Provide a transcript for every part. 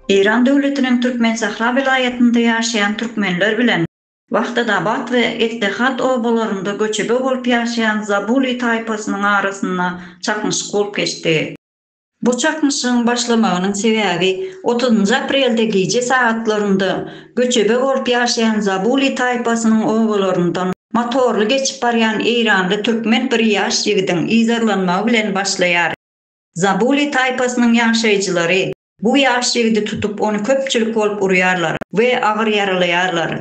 Eýran döwletiniň Türkmensahra welaýatynda ýaşaýan türkmenler bilen Wahdadabat we Ettehat obalarynda göçebe bolup ýaşaýan Zabuli taýpasynyň arasynda çaknyşyk bolup geçdi. Bu çaknyşygyň başlamagynyň sebäbi otuzynjy aprelde gije sagatlarynda göçebe bolup ýaşaýan Zabuli taýpasynyň obalaryndan Motorly geçip barýan eýranly türkmen bir ýaş ýigidiň yzarlanmagy bilen başlaýar. Zabuli taýpasynyň ýaşaýjylary bu ýaş ýigidi tutup ony köpçülik bolup urýarlar we agyr ýaralaýarlar.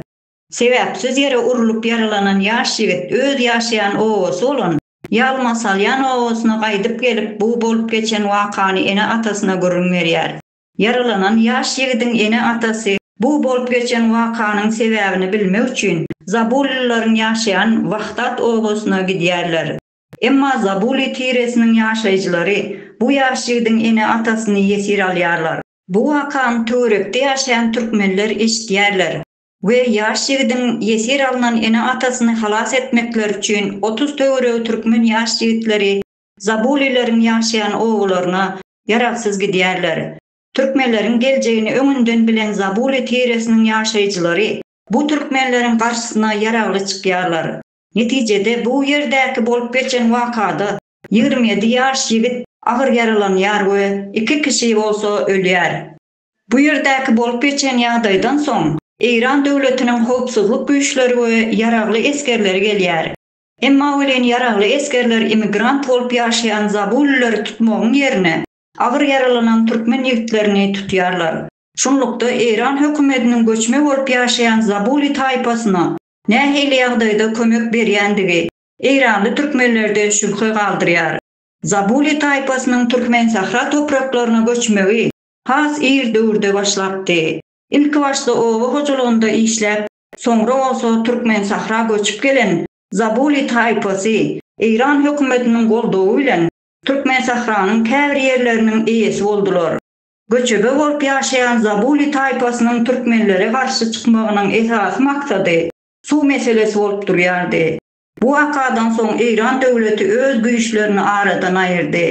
Sebäpsiz ýere urlup ýaralanan ýaş ýigit öz ýaşaýan obasy bolan Ýalmasalýan obasyna gaýdyp gelip bu bolup geçen wakany ene-atasyna gürrüň berýär. Ýaralanan ýaş ýigidiň ene-atasy bu bolup geçen wakanyň sebäbini bilmek üçin Zabulylylaryň ýaşaýan Wahdat obasyna gidýärler. Emma Zabuly tiresiniň ýaşaýjylary bu ýaş ýigidiň ene-atasyny ýesir alýarlar. Bu wakany töwerekde ýaşaýan türkmenler eşidýärler we ýaş ýigidiň ýesir alnan ene-atasyny halas etmekleri üçin otuz töweregi türkmen ýaş ýigitleri Zabulileriň ýaşaýan obalaryna ýaragsyz gidýärler. Türkmenleriň geljegini öňünden bilen Zabuly tiresiniň ýaşaýjylary bu türkmenleriň garşysyna ýaragly çykýarlar. Netijede bu ýerdäki bolup geçen wakada ýigrimi ýedi ýaş ýigit agyr ýaralanýar we iki kişi bolsa ölýär. Bu ýerdäki bolup geçen ýagdaýdan soň Eýran döwletiniň howpsuzlyk güýçleri we ýaragly esgerleri gelýär. Emma welin ýaragly esgerler immigrant bolup ýaşaýan zabulilleri tutmagyň ýerine, agyr ýaralanan türkmen ýigitlerini tutýarlar. Şunlukda, eýran hökümetiniň göçme bolup ýaşaýan zabuli taýpasyna nähili ýagdaýda kömek berýändigi eýranly türkmenlerde şübhe galdyrýar. Zabuli taýpasynyň türkmen sähra topraklaryna göçmegi has ir döwürde başlapdy. Ilkibaşda oba hojalygynda işläp, soňra bolsa Türkmensahra göçüp gelen Zabuli taýpasy Eýran hökümetiniň goldawy bilen Türkmensahranyň käbir ýerleriniň eýesi boldular. Göçebe bolup ýaşaýan Zabuli taýpasynyň türkmenlere garşy çykmagynyň esasy maksady suw meselesi bolup durýardy. Bu wakadan soň Eýran döwleti öz güýçlerini aradan aýyrdy.